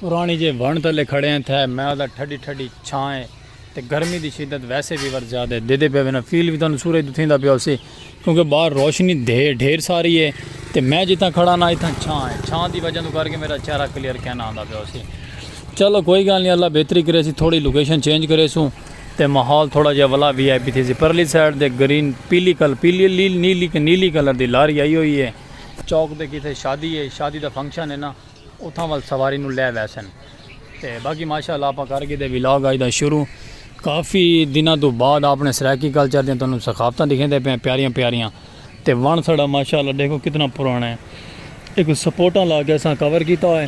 پرانی جے ونڑ تلے کھڑے ہیں تھے میں دا ٹھڈی ٹھڈی چھاں ہے تے گرمی دی شدت ویسے وی ور زیادہ ہے دیدے پیا وینا فیل وی تانوں سورج توں تھیندا پیا ہوسی کیونکہ باہر روشنی دھے ڈھیر ساری ہے تے میں جتھاں کھڑا نا اتھاں چھاں ہے چھاں دی وجہ توں کر کے میرا چہرہ کلیئر کینا آندا پیا ہوسی چلو کوئی گال نہیں اللہ بہتری کرے سی تھوڑی لوکیشن چینج کرے سوں تے ماحول تھوڑا جہا ولا وی آئی پی تھی سی پرلی سائیڈ دے گرین پیلی کل پیلی نیلی نیلی کلر دی لاری آئی ہوئی ہے چوک دے کیتے شادی ہے شادی دا فنکشن ہے نا اتھاں ول سواری نو لے ویسن تے باقی ماشاء اللہ آپاں کر گھدے ولاگ اج دا شروع کافی دناں توں بعد آپنے سرائیکی کلچر دیاں تانوں ثقافتاں دکھیندے پئے آں پیاریاں پیاریاں تے وݨ ساݙا ماشاء اللہ ݙیکھو کتنا پراݨا ہے ایکوں سپورٹاں لا کے اساں کور کیتا ہوئے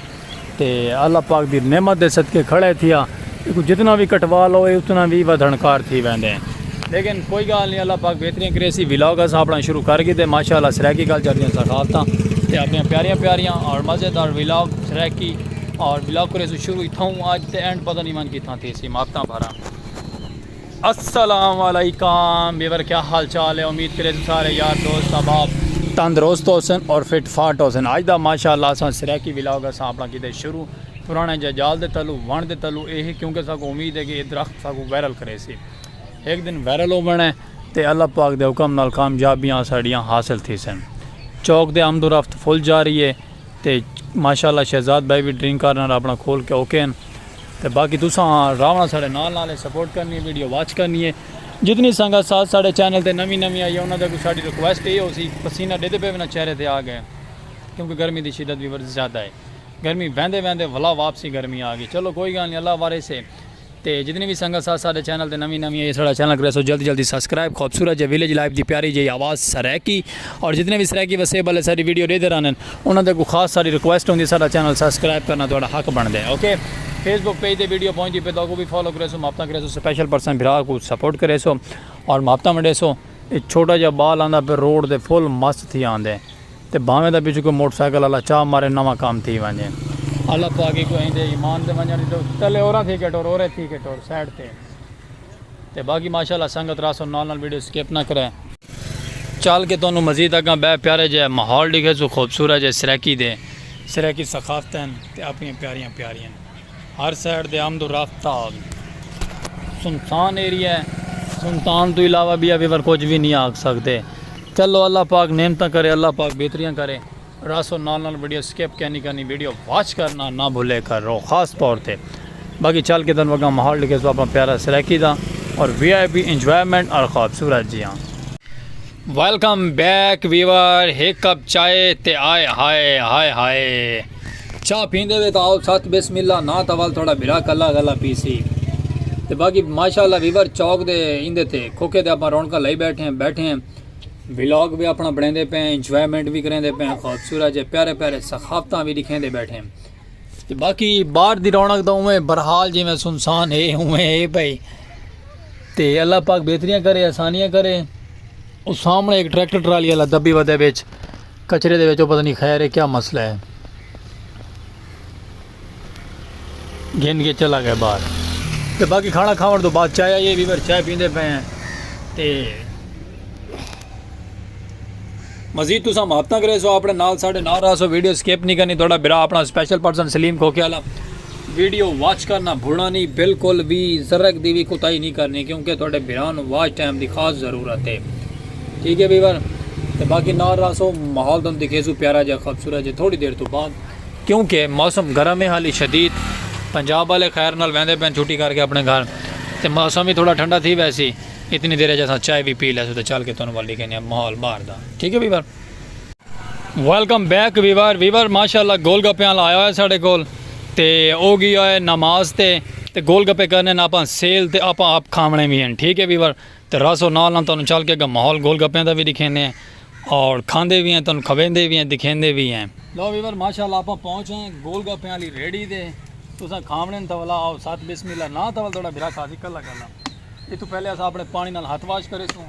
تے اللہ پاک دی نعمت دے صدقے کھڑے تھیا۔ ایکوں جتنا وی کٹوا لو اے اتنا وی ودھن کار تھی ویندے ہیں لیکن کوئی گال نہیں اللہ پاک بہتریاں کرے سی ولاگ اس اپنا شروع کر گئے تے ماشاءاللہ سرائیکی کلچر دیاں ثقافتاں تے اپنی پیاریاں پیاریاں اور مزیدار ولاگ سرائیکی اور ولاگ کرے سو شروع تھاؤں آج تے اینڈ پتہ نہیں من کی تھاں تھی سی ماپتاں بھراں السلام علیکم ویور کیا حال چال ہے امید کرے تو سارے یار دوست احباب تندرست ہوسن اور فٹ فاٹ ہوسن اج دا ماشاءاللہ اساں سرائیکی ولاگ اساں اپنا کیتے شروع پرانے ججال دے تلو ون دے تلو اے ہے کیونکہ ساکو امید ہے کہ اے درخت ساکو وائرل کرے سی ایک دن وائرل ہو بنے تے اللہ پاک دے حکم نال کامیابیاں ساڑیاں حاصل تھی سن چوک دے آمد و رفت فل جاری ہے تے ماشاء اللہ شہزاد بھائی وی ڈرنک کارنر اپنا کھول کے اوکے ہن تے باقی تساں راونا ساڑے نال نال ہے سپورٹ کرنی ہے ویڈیو واچ کرنی ہے جتنی سنگت ساتھ ساڑے چینل تے نوی نوی آئی ہے انہاں دے کو ساڑی ریکویسٹ ہے ہو سی پسینہ ڈیدے پے ونا چہرے تے آگئے کیونکہ گرمی دی شدت وی ورز زیادہ ہے گرمی ویندے ویندے ولا واپسی گرمی آگئی چلو کوئی گال نہیں اللہ وارث ہے تے جتنی وی سنگت ساتھ ساڈے چینل تے نویں نویں آئی ساڈا چینل کریسو جلدی جلدی سبسکرائب خوبصورت جے ویلیج لائف دی پیاری جئی آواز سرائیکی اور جتنے وی سرائیکی وسیب والے ساڈی ویڈیو ڈیدھے رہنن انہاں دے اگوں خاص ساڈی ریکویسٹ ہوندی ساڈا چینل سبسکرائب کرنا تہاڈا حق بندا ہے اوکے فیس بک پیج تے ویڈیو پہنچدی پے تاکو وی فالو کریسو محبتاں کریسو سپیشل پرسن بھرا کو سپورٹ کریسو اور محبتاں ونڈیسو اے چھوٹا جا بال آندا پے روڈ تے فل مست تھی آندے تے بھانویں دا پچھوں کوئی موٹر سائیکل آلا چا مارے نواں کام تھی ونجے۔ اللہ پاک ہیکوں ایں دے ایمان تے ونجنڑ ڈیتو پہلے اوراں تھی کیٹو اورے تھی کیٹو سائیڈ تے تے باقی ماشاءاللہ سنگت راہ سوں نال نال ویڈیو سکپ نہ کرے۔ چل کے تہانوں مزید اگاں بئے پیارے جئے ماحول ڈیکھیسوں خوبصورت جئے سرائیکی دے سرائیکی ثقافتیں تے اپنیاں پیاریاں پیاریاں۔ ہر سائیڈ دے آمد و رفت دا حال سنسان ایریا ہے۔ سنسان توں علاوہ بیا بیور کجھ وی نی آکھ سکدے۔ چلو اللہ پاک نعمتاں کرے اللہ پاک بہتریاں کرے راسو نال نال وڈیو سکپ کینی کرنی ویڈیو واچ کرنا نہ بھلے کر رو خاص طور تے باقی چل کے تن وگاں ماحول ڈکھے سو اپنا پیارا سرائیکی دا اور وی آئی پی انجوائمنٹ اور خوبصورت جی ہاں۔ ویلکم بیک ویور ہک کپ چائے تے آئے ہائے ہائے ہائے۔ چاہ پیندے وے تاں آؤ ست بسم اللہ ناں تاں ول تھوڑا بھرا کلا کلا پیسی تے باقی ماشاءاللہ ریور چوک دے ایندے تے کھوکھے تے اپاں رونقاں لائی بیٹھے ہیں بیٹھے ہیں ولاگ وی اپنا بنیندے پے ہیں انجوائمنٹ وی کریندے پے ہیں خوبصورت جے پیارے پیارے ثقافتاں وی دکھیندے بیٹھے ہیں تے باقی باہر دی رونق تاں اوویں برحال جویں سنسان ہے اوویں ہے بھائی تے اللہ پاک بہتریاں کرے آسانیاں کرے او سامنے ایک ٹریکٹر ٹرالی والا دبی ودے وچ کچرے دے وچ او پتہ نی خیر اے کیا مسئلہ اے۔ گھن کے چلا گئے باہر۔ تے باقی کھانا کھاون توں بعد چائے آئی اے ویور چائے پیندے پئے ہیں تے مزید تساں محبتاں کریسو اپنے نال ساڈے نال رہسو ویڈیو سکپ نی کرنی تہاڈا بھرا اپنا سپیشل پرسن سلیم کھوکھے آلا۔ ویڈیو واچ کرنا بھولنا نی بلکل وی ذرک دی وی کوتاہی نی کرنی کیونکہ تہاڈے بھرا نو واچ ٹائم دی خاص ضرورت ہے ٹھیک ہے ویور تے باقی نال راسو ماحول تن دکھیسو پیارا جا خوبصورت جا تھوڑی دیر تو بعد کیونکہ موسم گرم ہے حالی شدید پنجاب والے خیر نال ویندے پین چھٹی کر کے اپنے گھر تے موسم بھی تھوڑا ٹھنڈا تھی ویسی اتنی دیر جیسا چائے بھی پی لیسو تے چل کے تن وال دکھینے ماحول باہر دا ٹھیک ہے viewer welcome back viewer viewer ماشاءاللہ گول گپے والا آیا ہوا ہے ساڑے کول تے او گیا ہے نماز تے تے گول گپے کرنے نا اپاں سیل تے اپاں آپ کھاونے بھی ہیں ٹھیک ہے ویور تے راسو نال نال تانوں چل کے گا ماحول گول گپے دا بھی دکھینے ہیں اور کھاندے بھی ہیں تانوں کھویندے بھی ہیں دکھیندے بھی ہیں لو ویور ماشاءاللہ اپاں پہنچ ہیں گول گپے والی ریڈی دے تساں کھاونے تو والا آؤ ساتھ بسم اللہ نا تو والا تھوڑا بھرا کھا دی کلا کلا یہ تو پہلے اسا اپنے پانی نال ہاتھ واش کرے سوں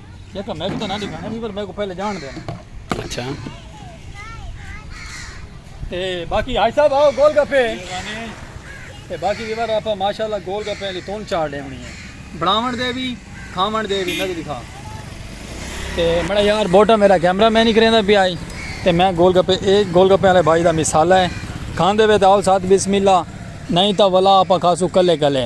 دیکھا میں کو تو نہ دکھانا نہیں پر میں کو پہلے جان دینا اچھا تے باقی حاج صاحب آؤ گول گپے تے باقی ویور آپ ماشاءاللہ گول گپے علی تون چار ڈے ہونی ہے بڑاون دے بھی کھاون دے بھی میں کو دکھا تے میرا یار بوٹا میرا کیمرہ میں نہیں کریں دا بھی آئی تے میں گول گپے ایک گول گپے علی بھائی دا مثال ہے کھان دے وے داؤ ساتھ بسم اللہ نہیں تا ولا آپ کھاسو کلے کلے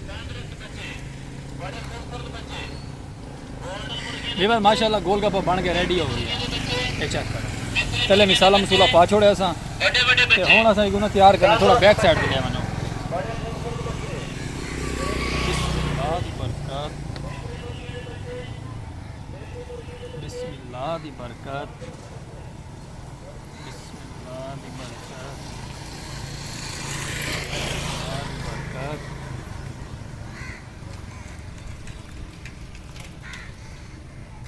ویور ماشاءاللہ گول گپا بن کے ریڈی ہو گئی ہے چیک کرو پہلے مثالا مسولا پا چھوڑے اساں تے ہن اساں ایکو نا تیار کرنا تھوڑا بیک سائیڈ تے لے ونجو بسم اللہ دی برکت بسم اللہ دی برکت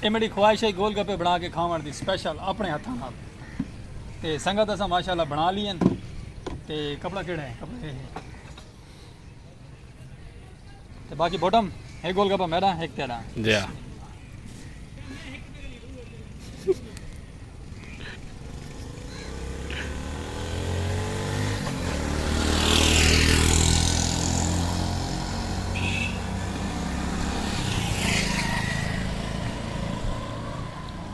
اے میری خواہش ہے گول گپے بنا کے کھاون دی سپیشل اپنے ہتھاں نال تے سنگت اساں ماشاءاللہ بنا لیے تے کپڑا کیڑا ہے کپڑے تے باقی بوٹم ایک گول گپا میرا ایک تیرا جی ہاں۔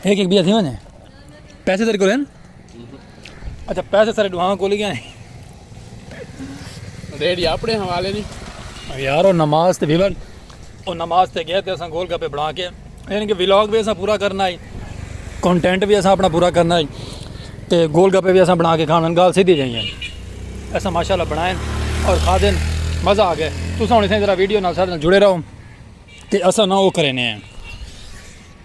ہک ہک بیا تھی ونجے پیسے تیرے کول ہیں اچھا پیسے سارے ڈوہاں کول گیا ہیں ریڈی اپنے حوالے نہیں یار او نماز تے بیبر او نماز تے گیا تے اساں گول گپے بنا کے یعنی کہ ولاگ بھی اساں پورا کرنا ہے کنٹینٹ بھی اساں اپنا پورا کرنا ہے تے گول گپے بھی اساں بنا کے کھانا گال سیدھی جائیں اساں ماشاءاللہ بنائیں اور کھا دیں مزہ آ گیا تساں ہن اساں ذرا ویڈیو نال سارے جڑے رہو تے اساں نہ او کرے نے ہیں